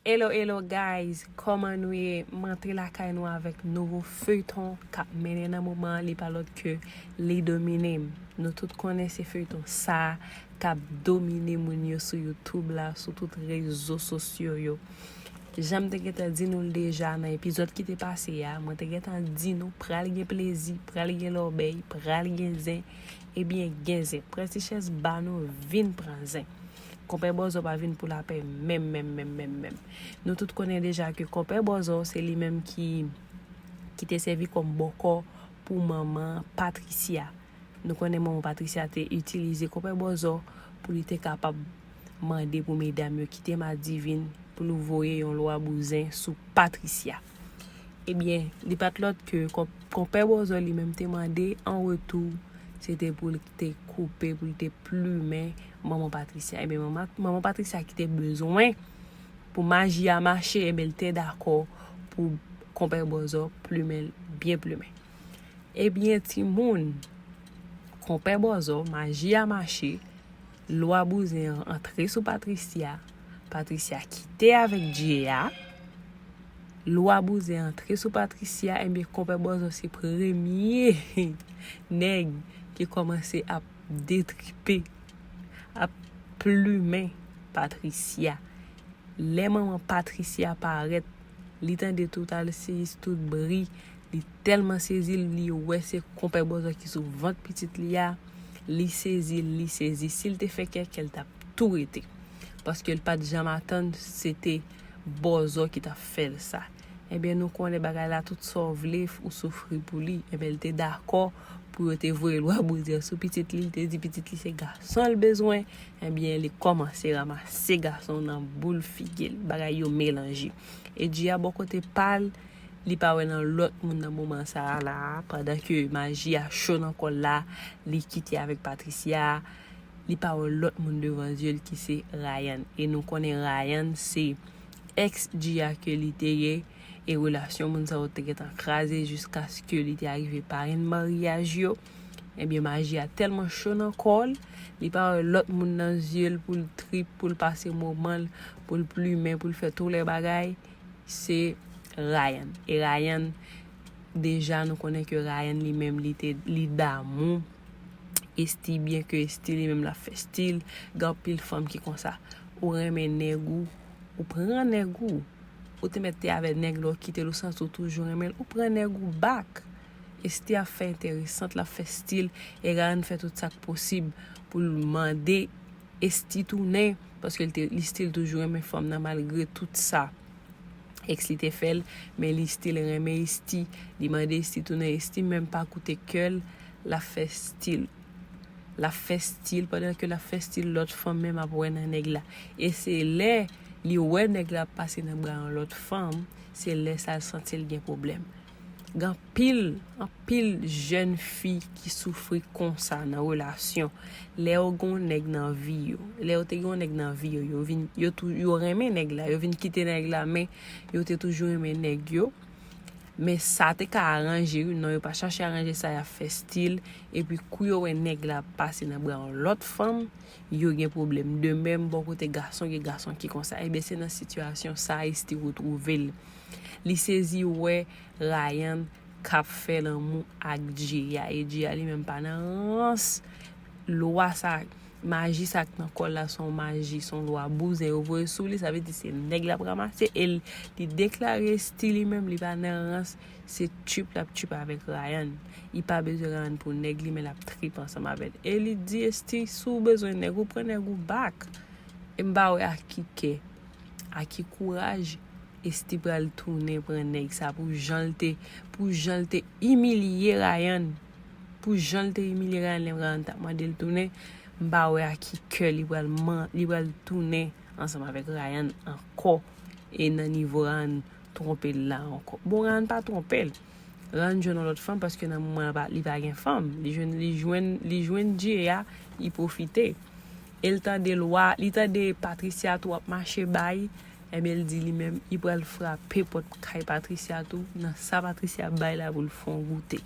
Hello hello guys kòman nou ye m rantre lakay nou avèk nouvo feuilleton kap mennen nan moman an li pa lòt ke li domine m nou tout konnen se feuilleton sa kap domine moun yo sou youtube la sou tout rezo sosyo yo jan m te gentan di nou l deja nan epizòd ki te pase a mwen te gentan di nou pral gen plezi pral gen lòbèy pral gen zen ebyen gen zen prètichèz ba nou vin pran zen. Konpè Bòzò pa vin pou lapè menm menm menm menm menm. Nou tout konnen deja ke Konpè Bòzò se li menm ki ki te sèvi kòm bòkò pou manman Patricia. Nou konnen manman Patricia te itilize Konpè Bòzò pou li te kapab mande pou medam yo kite Madivin pou nou voye yon lwa bouzen sou Patricia. Ebyen, li pa t lòt ke Konpè Bòzò li menm te mande an retou, se te pou l te koupe, pou l te plumen Manman Patricia. Ebyen, Manman Patricia ki te bezwen pou maji a mache, ebyen l te dakò pou Konpè Bòzò plumen l byen plumen. Ebyen timoun, Konpè Bòzò, maji a mache. Lwa bouzen an antre sou Patricia, Patricia kite avèk Djea, lwa bouzen antre sou Patricia enbyen konpè Bòzò se premye nèg ki kòmanse ap detripe, ap plumen Patricia. Lè manman Patricia parèt, li tande tout al seyis tout bri Li telman sezi li wè se konpè bòzò ki sou vant pitit li a, li sezi li sezi sil te fè kèkè li tap tou rete paskel pat janm atann se te bòzò ki tap fèl sa ebyen nou konnen bagay la tout sa w vle ou soufri pou li ebyen li te dakò pou yo te voye lwa bouzen an sou pitit li li te di pitit li se gason l bezwen ebyen li kòmanse ramase gason nan boul figil bagay yo melanje Edjia bò kote pal li pa wè nan lòt moun nan moman sa a la a, pandan ke maji a cho nan kò l la, li kite avèk Patricia, li pa wè lòt moun devan zye l ki se Rayan. E nou konnen Rayan se ex Gia ke li te ye, e relasyon moun sa yo te gentan kraze jiskaske li te arive parenn maryaj yo. Ebyen maji a tèlman cho nan kò l, li pa wè lòt moun nan zye l pou l trip, pou l pase moman l, pou l plimen, pou l fè tou lè bagay. se Ryan e Ryan deja nou konnen ke Ryan li menm li te li damou Esthie byen ke Esthie li menm lap fè stil gen anpil fanm ki konsa ou renmen nèg ou ou pran nèg ou ou te mèt te avè nèg la ou kitel ou santi ou toujou renmenl ou pran nèg ou back Esthie ap fè enteresant lap fè stil e Ryan fè tout sak posib poul mande Esthie tounen paske li still toujou renmen fanm nan malgre tout sa ex li te fèl men li still renmen Esthie li mande Esthie tounen Esthie menm pa koute kèl lap fè still lap fè still pandan ke lap fè still lòt fanm menm ap wè nan nèg la e se lè li wè nèg la ap pase nan bra yon lòt fanm se lè sa l santil gen pwoblèm. Gen anpil, anpil jèn fi ki soufri konsa nan relasyon. Lè yo gen yon nèg nan vi yo, lè yo te gen yon nèg nan vi yo, yo vin, yo tou, yo renmen nèg la, yo vin kite nèg la men yo te toujou renmen nèg yo. Men sa te ka aranje yo, non yo pa chache aranje sa, y ap fè stil. Epi kou yo wè nèg la ap pase nan bra yon lòt fanm, yo gen pwoblèm. De menm bò kote gason, gen gason ki konsa. Enben se nan sitiyasyon sa Ayisiti retwouve l. Li sezi wè Rayan kap fè lanmou ak Djeya e Djeya li menm pa nan rans lwa sa maji sa k nan kòl la son maji son lwa bouzen yo voye sou li sa vle di se nèg lap ramase e li deklare sti li menm li pa nan rans se tchuip lap tchuip avèk Rayan li pa bezwen Rayan pou nèg li men lap trip ansanm avè l e li di sti si w bezwen nèg ou pran nèg ou back e m pa wè ak ki kè. A ki kouraj Esthie pral tounen pran nèg sa pou janl te pou janl te imilye Rayan pou janl te imilye Rayan lè Rayan tap mandel tounen m pa wè a ki kè li pral man li pral tounen ansanm avèk Rayan ankò e nan nivo Rayan twonpel la ankò bon Rayan pa twonpel Rayan jwenn yon lòt fanm paske nan moman li pa gen fanm li jwenn li jwenn li jwenn Dye a li pwofite. El tande lwa li tande Patricia tou ap mache bay ebyen li di li menm li pral frape pòt kay Patricia tou nan sa Patricia ap bay la poul fon goute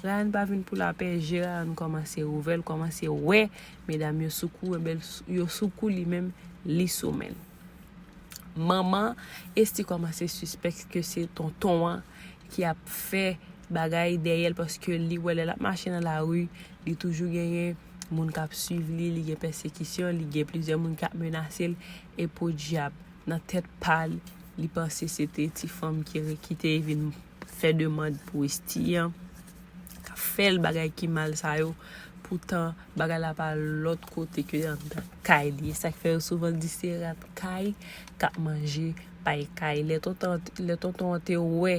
Ryan pa vin pou lapè je Ryan kòmanse ouvè l kòmanse wè medam yo sou kou ebyen yo sou kou li menm li sou menl. Manman Esthie kòmanse sispèk ke se tonton an ki ap fè bagay dèyè l paske li wè lè l ap mache nan lari li toujou genyen moun k ap swiv li, li gen pèsekisyon, li gen plizyè moun k ap menase l e podyab nan tèt pa l li panse se te ti fanm ki te vin fè demand pou Esthie kap fèl bagay ki mal sa yo poutan bagay la pa lòt kote ke andan kay li esak fè yo souvan di se rat kay kap manje pay kay lè tonton an te wè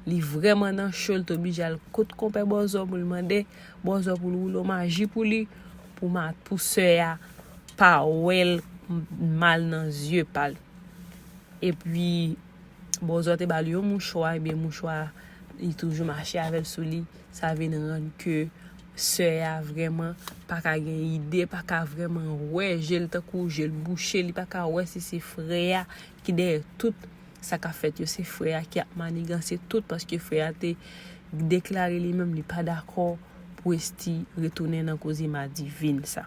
li vrèman nan cho li te oblije al kot konpè bòzò poul mande bòzò poul woulo maji pou li pou sè a pa wèl mal nan zye pal epi Bòzò te bal yon mouchwa ebyen mouchwa li toujou mache avèl sou li sa vin rann ke sè a vrèman paka gen ide paka vrèman wè jel tankou jel bouche li paka wè si se frè a ki dèyè tout sa kap fèt yo se frè a ki ap maniganse tout paske frè a te deklare li menm li pa dakò pou Esthi retounen nan koze madivin sa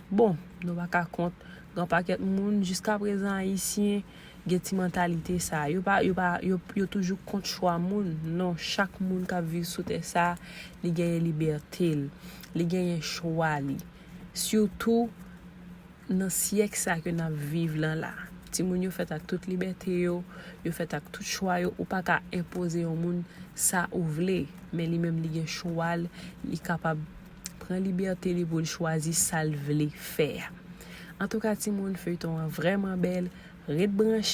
bon nou paka kont yon pakèt moun jiskaprezan ayisyen gen ti mantalite sa. Yo pa, yo pa, yo, yo toujou kont chwa moun. Non, chak moun kap viv sou tè sa, li genyen libète l. Li genyen chwa li. Sitou, nan syèk sa ke nap viv lan la. Timoun yo fèt ak tout libète yo, yo fèt ak tout chwa yo. Ou pa ka enpoze yon moun sa ou vle. Men li menm li gen chwa l, li kapab. pran libète li poul chwazi sal vle fè. Antouka timoun feyton an vrèman bèl ret branche.